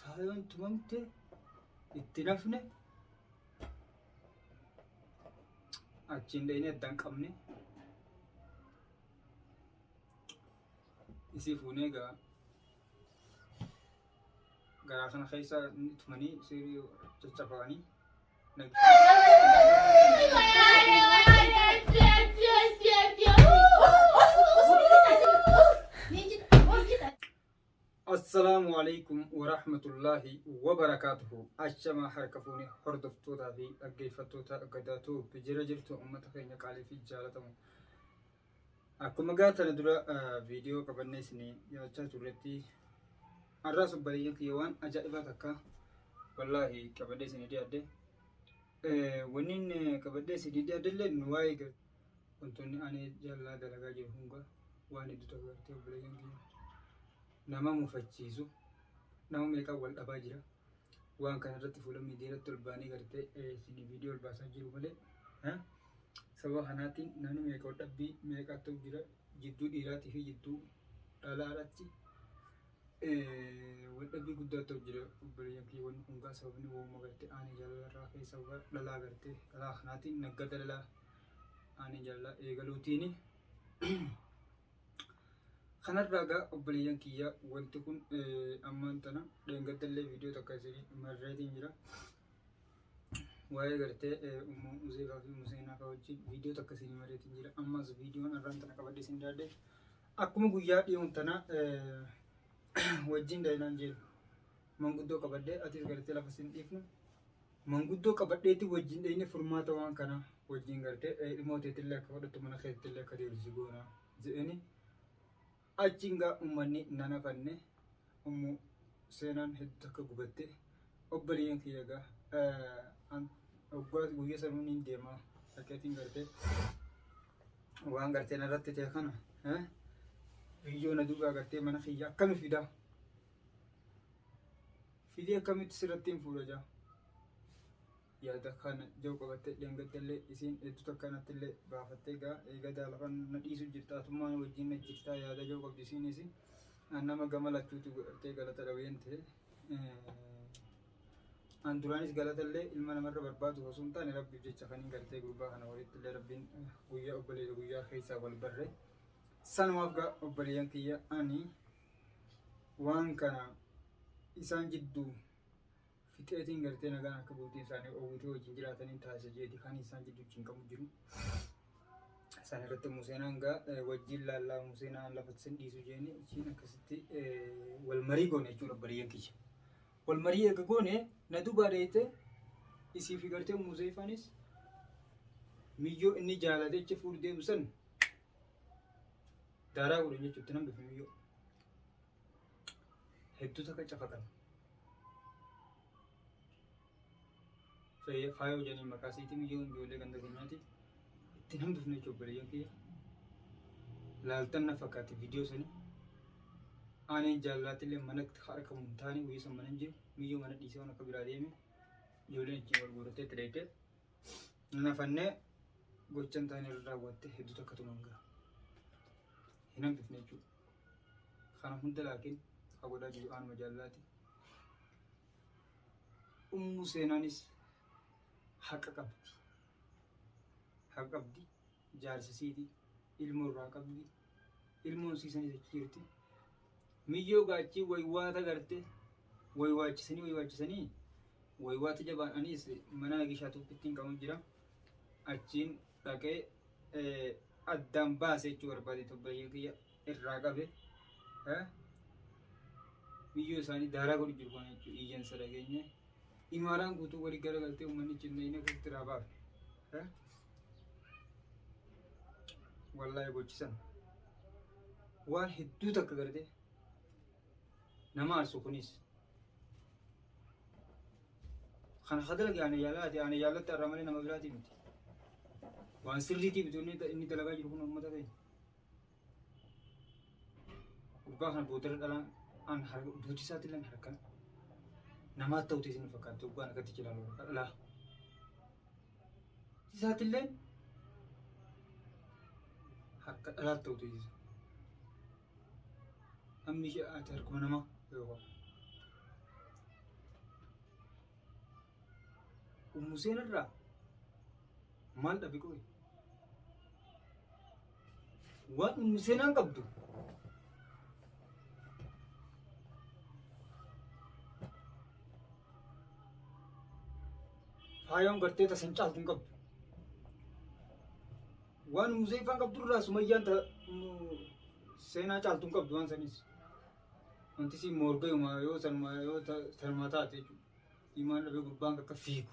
Faayoon tumamte itti nafne achiin dhayinee addaan qabne isii fuunee egaa garaa kana keessa inni tumanii sirii caccabanii nag- Thank you. Assalaamu Aleykum Warahmatullaahi Wabarakaatuhu Ashamaa harka fuune hordoftootaa fi dhaggeeffattoota Gadaa Tube jira jirtu uummata keenya qaalii fi jaalatamu. Akkuma gaa tana dura viidiyoo qabannee isin dhiyaachaa turretti har'aa subbareeyyan kiyya waan ajaa'ibaa takka wallaahi qabadhee isin dhiyaadde. Wanni qabadhee isin dhiyaadde illee waa'ee Wantoonni ani jallaa dalagaa jiru hunga waan heddu ta'u gartee obboleeyyan kiyya. Nama mufachiisu nama meeqaan wal dhabaa jira. Waan kana irratti fuula miidiyaa irratti ol baanee gartee isin viidiyoo ol baasaa jiru malee. Sababa kanaatiin namni meeqa wal dhabbii meeqa ta'u jira jidduu dhiiraatii fi jidduu dhalaa irratti wal dhabbii guddaa ta'u jira obboleeyyan kiyya wanni hungaa sababni wooma gartee ani jaalala irraa ka'e sababa dhalaa gartee dhalaa kanaatiin naggada dhalaa. ani jalla eegaluutiini. Kanarraa egaa obboleeyyan kiyya wanti kun ammaan tana dheengadallee viidiyoo takka isin marreetiin jira. Waa'ee gartee ummu Uzeefaa fi Museenaa fa'aa wajjin viidiyoo takka isin marreetiin jira. Ammas viidiyoon arraan tana qabadde isin daadde. Akkuma guyyaa dhiyoon tana wajjin daynaan jiru. Manguddoo qabadhee atis gartee lafa sin dhiifnu manguddoo qabadheetti wajjin dheyne furmaata waan kana wajjin gartee eh, ilmoo teetillee akka fudhattu mana keetillee akka deebitu si goona je'eni achiin gaa ummanni nana fanne ummu seenaan hedduu akka gubatte obboleeyyan kiyya gaa eh, an oggaa guyya sanuu niin deema dhaqeetiin gartee waan gartee narratti ta'e kana eh, biyyoo na duubaa gartee mana kiyya akkami fidaa Filii akkamitti sirrattiin fuudha jaa? Yaada kana jau qabattee dheengatte illee isiin hedduu takka natti illee baafattee gaa eegadaa lafa na dhiisu jirta atummaa na wajjin na jirta yaada jau qabdi isiin isiin an nama gama lachuuti godhattee galata dhabeen ta'e. An duraanis galata illee ilma namarra barbaadu osoo hin taane rabbiif jecha kan hin galtee gurbaa kana walitti illee rabbiin guyyaa obboleessa guyyaa keessaa wal barree. Sanumaaf gaa obboleeyyan kiyya ani waan kana isaan jidduu fixeetiin gartee nagaan akka bultiin isaanii oowwitee wajjin jiraataniin taasisa jeeti kan isaan jidduu wajjin qabu jiru. Isaan irratti Museen hangaa wajjin laallaa Museen aan lafa sin dhiisu jeeni achiin akkasitti wal marii goone jechuudha bariyyan kiyya. Wal marii eega goone na dubaa deeyte isii fi gartee Musee faanis miyyoo inni jaalate achi fuudhu deemu san Daaraa godhan jechuun itti nan bifame yoo. Hedduu takka cafaqan. Fayyee faayoo jedhanii maqaa siitiin yoo ijoollee ganda keenyaati. Itti nan bifne jechuun obboleeyyan kiyya. Laaltan na fakkaatti viidiyoo sanii. Ani jaallatillee mana harka hin taane guyyaa san mana hin jiru. Miyyoo mana dhiisee waan akka biraa deeme. Ijoolleen ittiin wal guurattee itti dheettee. Hin hafannee gochan ta'an irra raawwatte hedduu takka tuman gara. Hin hambifne jechuudha. Kana hunda laakiin ha godhaa jiru aanuma jaallaati. Ummu seenaanis haqa qabdi. Haqa qabdi. Jaarsisiiti. Ilmoo irraa qabdi. ilmoon sii sanii jechi jirti miyyoo gaachii waywaata garte waywaachisanii waywaachisanii waywaata jabaan aniis mana nagishaa tuppittiin qabu jira achiin dhaqee addaan baase jechuu barbaade tobbayyee kiyya irraa qabe miyyoo isaanii daaraa godhu jiru kana jechuu iyyansa dhageenye Imaaraan guutuu wali galagaltee uummanni cinnayina keessatti irraa baafte. Eh? Wallahi gochisan. Waan hedduu takka gartee nama aarsu kunis. Kana hadalage ana yaalaati ana yaalatti arra malee nama biraatii miti. Waan sirriitii bitu inni inni dalagaa jiru kun uummata keenya. Dhugaa kana boodarra dhalaan an harka duuti isaatti illee harka namaa ta'uuti isin fakkaatti dhugaan akkatti jedhamu harka dhalaa. Isaatti illee harka dhalaa ta'uuti isin. Hammi ishee ati harkuma namaa yoo qabu. Ummuseen irraa maal dhabe qoyi? Waan seenaan qabdu. Faayoon gartee tasan caaltu hin qabdu. Waan muzeeffaan qabdu irraa sumayyaan ta mu- seenaa caaltu hin qabdu waan sanis. Wanti siin morgayuma yoo sanuma yoo ta- sanuma taate jechuudha. Imaan dhabee gurbaan akka fiigu.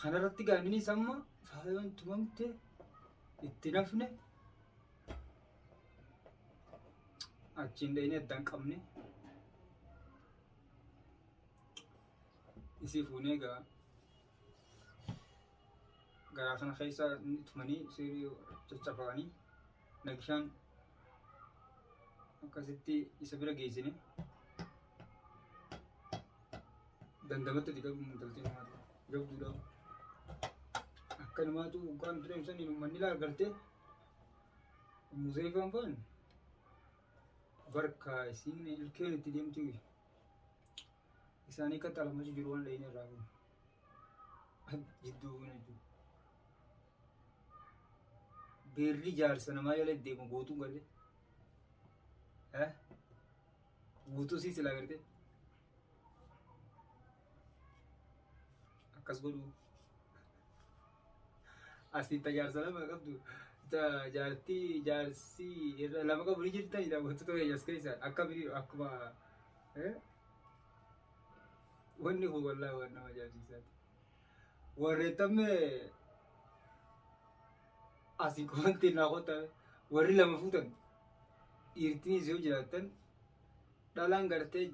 Kanarratti gaa innis amma faayoon tumamte itti nafne achiin dhayinee addaan qabne isii fuunee gaa garaa kana keessa tumanii sirii caccafaqanii nagishaan akkasitti isa bira geessine Dandamatte ti garuu intalti namaa tun. Jabduudha. Akka namaatu hoggaan tureem saniin ummanni laa gartee. Ummu Zeefaan faan barkaa isiin ilkeen itti deemti wi. Isaanii akka xalamachi jiru waan dhayin irraa kun. Jidduu kun jechuudha. Beerri jaarsa namaa jala deemu gootuu galee. Eh? Guutuu sii silaa gartee. akkas godhu asiin ta jaarsa lama qabdu ta jaartii jaarsii irra lama qabu ni jirta jedha wantoota keenya as keessa akka biri akkuma eh? wanni kun wallaahi waan nama ajaa'ibsiisaati warreeffamne asii komantiin naa qottame warri lama fuutan dhiirtinis yoo jiraattan dhalaan gartee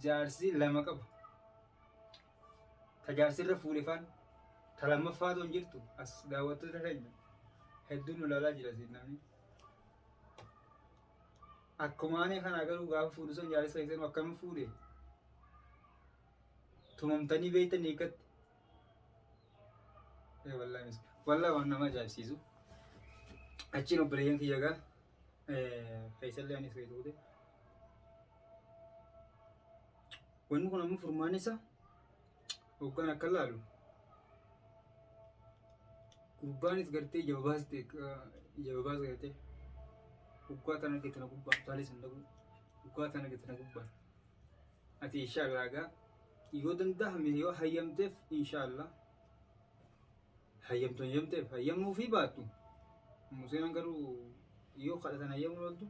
jaarsii lama qabu ta jaarsirra fuudhefaan ta lammaffaa toon jirtu as daawwattoota keenya hedduun nu laalaa jira siin namni akkuma ani kanaa garuu gaafa fuudhu san jaarsa keessan akkam fuudhe tumamtanii beektan hiikatti wallaahi waan nama ajaa'ibsiisu achiin obboleeyyan kiyya gaa Feesallee anis feetu godhe. Wanni kun ammoo furmaan isa hoggaan akka laalu gurbaanis gartee ija babaaste ija babaas gartee guggaa tana gate na gubbaa taalee san dhabuu guggaa tana gate na gubbaa ati inshaallah egaa yoo danda'ame yoo hayyamteef inshaallah hayyamtu hayyamteef hayyamuu fi baattu Museen garuu yoo kadhatan hayyamuu ooltu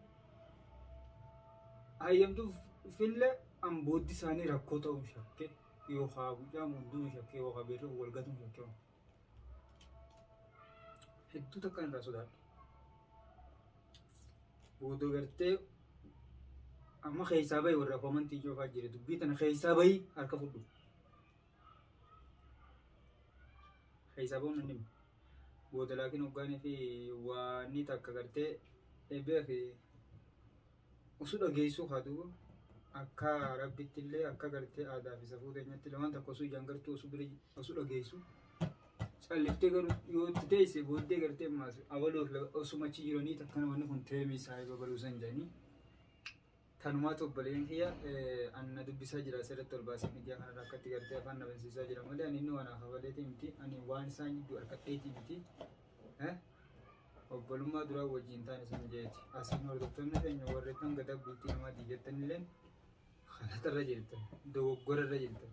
hayyamtuuf fille an booddi isaanii rakkoo ta'uu shakke yookaa gucaan gudduu shakke yookaa beerri wal gatuu shakke hedduu takka irraa sodaadhu boodoo gartee amma keessaa bahi warra komantii joofaa jira dubbii tana keessaa bahi harka fudhu. Hisaaboo minni booda laakiin hoggaanii fi waanni takka gartee beeki usu dhageessuu haa duuba akka rabbitti illee akka gartee aadaa fi safuu keenyatti illee waan takka osoo ijaan gartuu osoo bira osoo dhageessu calliftee garuu yoo itti teesse booddee gartee maas abaloof osuma achi jiranii takka namoonni kun teemii saahiba baluusan jedhanii Tanumaatu obboleeyyan kiyya an na dubbisaa jira asirratti ol baasee miidiyaa kanarra akka itti gartee afaan na bansiisaa jira malee ani inni waan hafabaleetii miti ani waan isaan jidduu harkadheetii miti obbolummaa duraa wajjin taan isin jeeti asiin hordoftoonni keenya warri kan gadaa bultii namaati jettanilleen kanatarra jirtan dogoggorarra jirtan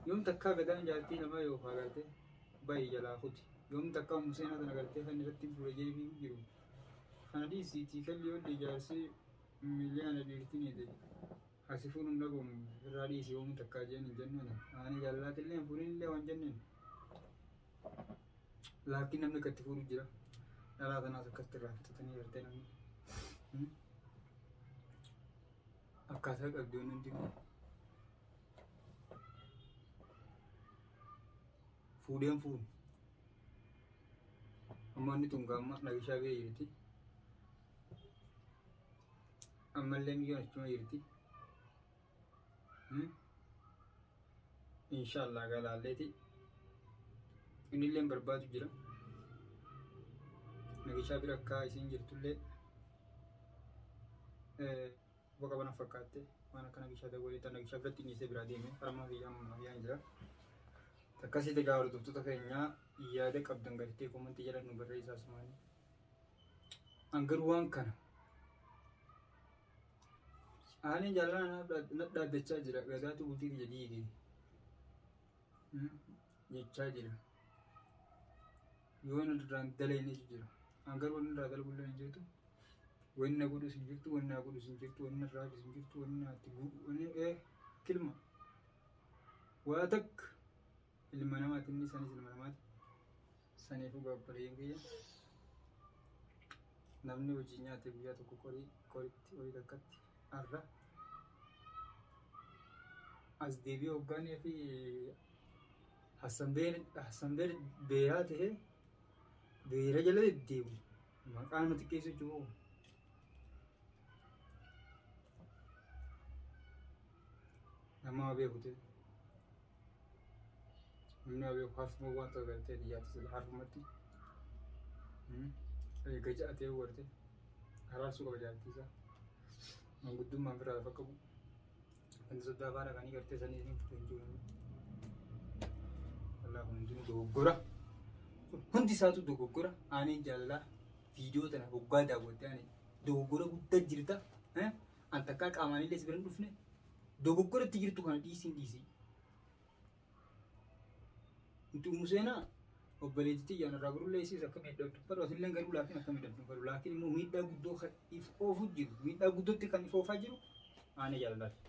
yoom takkaa gadaan jaartii namaa yoo faagartee baay'ee jalaa kuti yoom takkaa museenaa tana gartee kan irratti fuula jeebii jiru Kana dhiisi itii kalli yodde jaarsi miliyaana dhiirti niite ha si fuudhu hin dhabomu irraa dhiisi homu takka jeen hin jenneni aani jaallaatille hin fuudhinille wan jenneen laakki namni akka itti fuudhu jira dhalaa tanaas akkasitti irraa fixatanii jirtee namni akkaataa qabdi waan hundi fuudheen fuudhu Amma inni tun gaamma nabishaa bee jirti. Ammallee miyyoon achuma jirti. Inshaallah galaalleeti. Innillee barbaadu jira. Nabishaa bira akka isiin jirtullee. Quba qaba na fakkaatte waan akka nagishaa dawwalee tan nagishaa biratti dhiisee biraa deeme harmaa fi yaamuu naaf yaan jira. Akkasii egaa hordoftoota keenyaa yaada qabdan gartee komantii jala nu barreessaa sumaanii. An garuu waan kana aanin jaalala naaf dhaad- na dhaaddachaa jira gadaatu bultii kiyya diige jechaa jira. yoo inni duraan dalayne jira. An garuu wanni irraa dalagullee hin jirtu. Wanni na godhus hin jirtu, wanni naa godhus hin jirtu, wanni irraa hafis hin jirtu, wanni naatti bu'u, wanni ee kilma. Waa takka ilma namaati inni sanis ilma namaati. Saniifuu gaabbareeyyan kiyya. Namni hojii nyaate guyyaa tokko qorii qoritti horii takkatti arra. As deebi'ee hoggaanii fi Hasanbeer beeraa ta'ee beera jala deddeebu maqaa nama xiqqeessu jiru. Nama waa beeku ta'e. Namni waa beeku harfuma waan ta'u galtee biyyaatti sila harfumatti. Eega ja'a ta'ee warte araarsuu qaba jaartii isaa. Manguddummaan biraa lafa qabu. Wanti soddaa afaan dhaqanii gartee sanii isin fudhe hin jiru. Walaa kun hundinuu dogoggora. Kun hundi isaatu dogoggora. Aaneen jaalalaa viidiyoo tana hoggaa daawwattee ani dogoggora guddaa jirta. Eh? An takkaa qaamaan illee si bira hin dhufne. Dogoggora itti jirtu kana dhiisiin dhiisii. Nuti umu seenaa obboleetti tiyya narraa baruu leessiis akka miidhaa dubbatu asillee garuu laakiin akka miidhaa dubbatu laakiin immoo miidhaa guddoo kan if oofu jiru miidhaa guddootti kan if oofaa jiru aana jaallaati.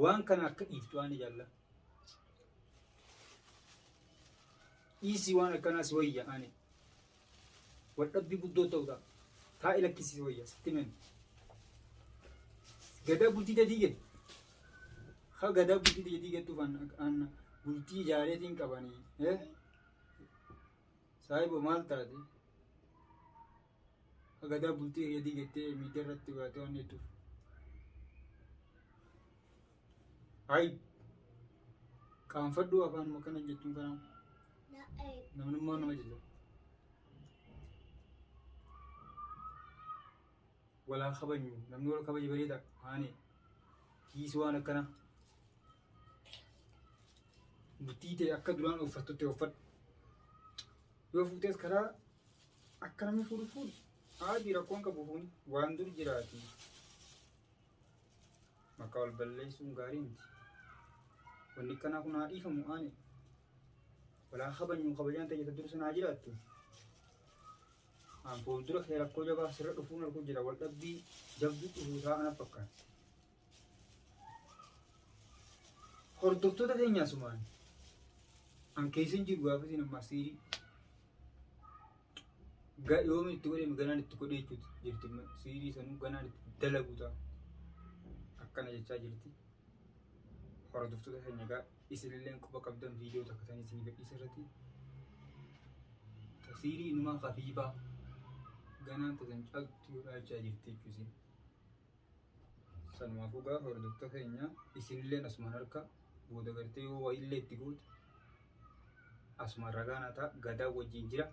Waan kana akka dhiiftu aana jaallaa. Dhiisii waan akkanaa si wayya aane. Waldhabbii guddoo ta'udha. Taa'i lakkisii wayya sitti himen. Gadaa bultii dadii gadi. Ha gadaa bultii dadii gadduuf anna bultii ijaareetiin qabanii. Eh? Saahibo maal taate? Ha gadaa bultii dadii gattee miidiyarratti baatee waan hedduuf. Hay. Qaanfadhuu afaanuma kana jettuun kanaa. Namnummaa nama jajjaba. Walaa kabajnu namni wal kabaje bareeda haane kiisi waan akkana bultii ta'e akka duraan uffattutti uffadhu yoo fuutees karaa akka namni fuudhu fuudhu haati rakkoon qabu fuuni waan dur jiraati. Maqaa wal balleessuun gaarii miti. Wanni akkanaa kun haa dhiifamu aane. Walaa kabajnu kabajaan ta'e jetta dursa naa jiraattu. Aan fuuldura kee rakkoo jabaa sirra dhufuun arguu jira wal dhabbii jabduu dhufuu isaa ana fakkaata. Hordoftoota keenyaa sumaan an keessa hin jiru gaafa isin ammaa siirii. Ga- Yoomi itti godhame ganaan itti godhee jechuuti jirti amma. Siirii sanuu ganaan itti dalagu ta'a. Akkana jechaa jirti. Hordoftoota keenya egaa isinillee quba qabdan viidiyoo takka tan isinii gadhiisa irratti. Ta Siirii inumaa kafiifaa ganaan tasan caaltu yoo dhaalchaa jirti jechuusi. Sanumaafuu gaafa hordoftoota keenya isinilleen asumaan harka booda gartee yoo wayillee itti goote asumaan ragaa naa ta'a gadaa wajjin jira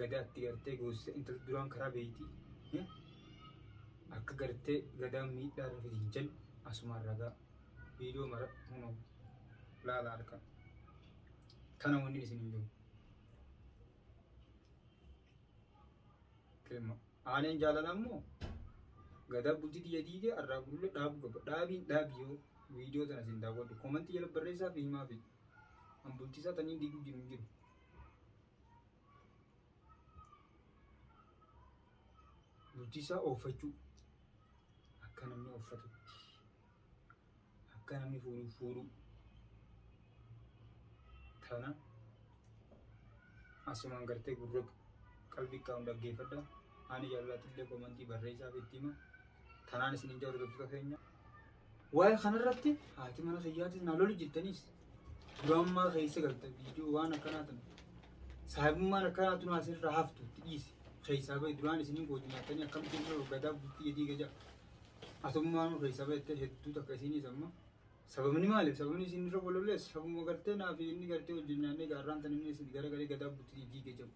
gadaa itti gartee goosise intalli duraan karaa beeyti eh, akka gartee gadaa miidhaa irra fidin jedhu asumaan ragaa viidiyoo mara hunoo laala harka tana wanni isin hin jiru. Kilma. Aaneen jaalala ammoo gadaa bultii tiyya diige arraa gurullee dhaabuu qaba. Dhaabiin dhaabi yoo viidiyoo tana isin daawwadhu koomantii jala barreessaa fi himaa fi an bultii isaa taniin diiguu jiru hin jiru. Bultii isaa ooffachuu akka namni ooffatutti. akka namni fuudhu fuudhu tana asumaan gartee gurra qalbii qabuun dhaggeeffadha ani jaallattillee komantii barreessaaf itti hima tanaan isin hin hordoftoota keenya waa'ee kanarratti haati mana kiyyaatis naa lolu jettaniis dura ammaa keessa galte viidiyoo waan akkanaa tana saahibummaan akkanaa tun asirraa haftu itti dhiisi keessaa bahi duraan isiniin gootu nyaattanii akkamitti irra hoggataa bultii jedhii gajaa Atummaanuu keessa beektee hedduu takka isiiniis amma sababni maaliif sababni isiin irra walollees sababuma gartee naa fi inni gartee wajjin nyaannee gaarraan tan inni isin gara galee gadaa butii diige jedhu.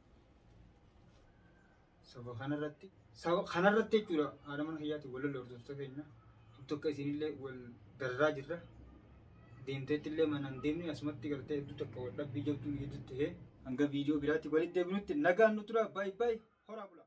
Saba kanarratti saba kanarratti jechuudha haadha mana kiyyaatti walolle hordoftoota keenya tokko isiinillee wal darraa jirra. Deemteetti illee manaan deemnee asumatti gartee hedduu takka wal dhabbii jabduu ni hedduu ta'ee hanga viidiyoo biraatti walitti deebinutti nagaan nu tura baay'ee baay'ee horaa bulaa.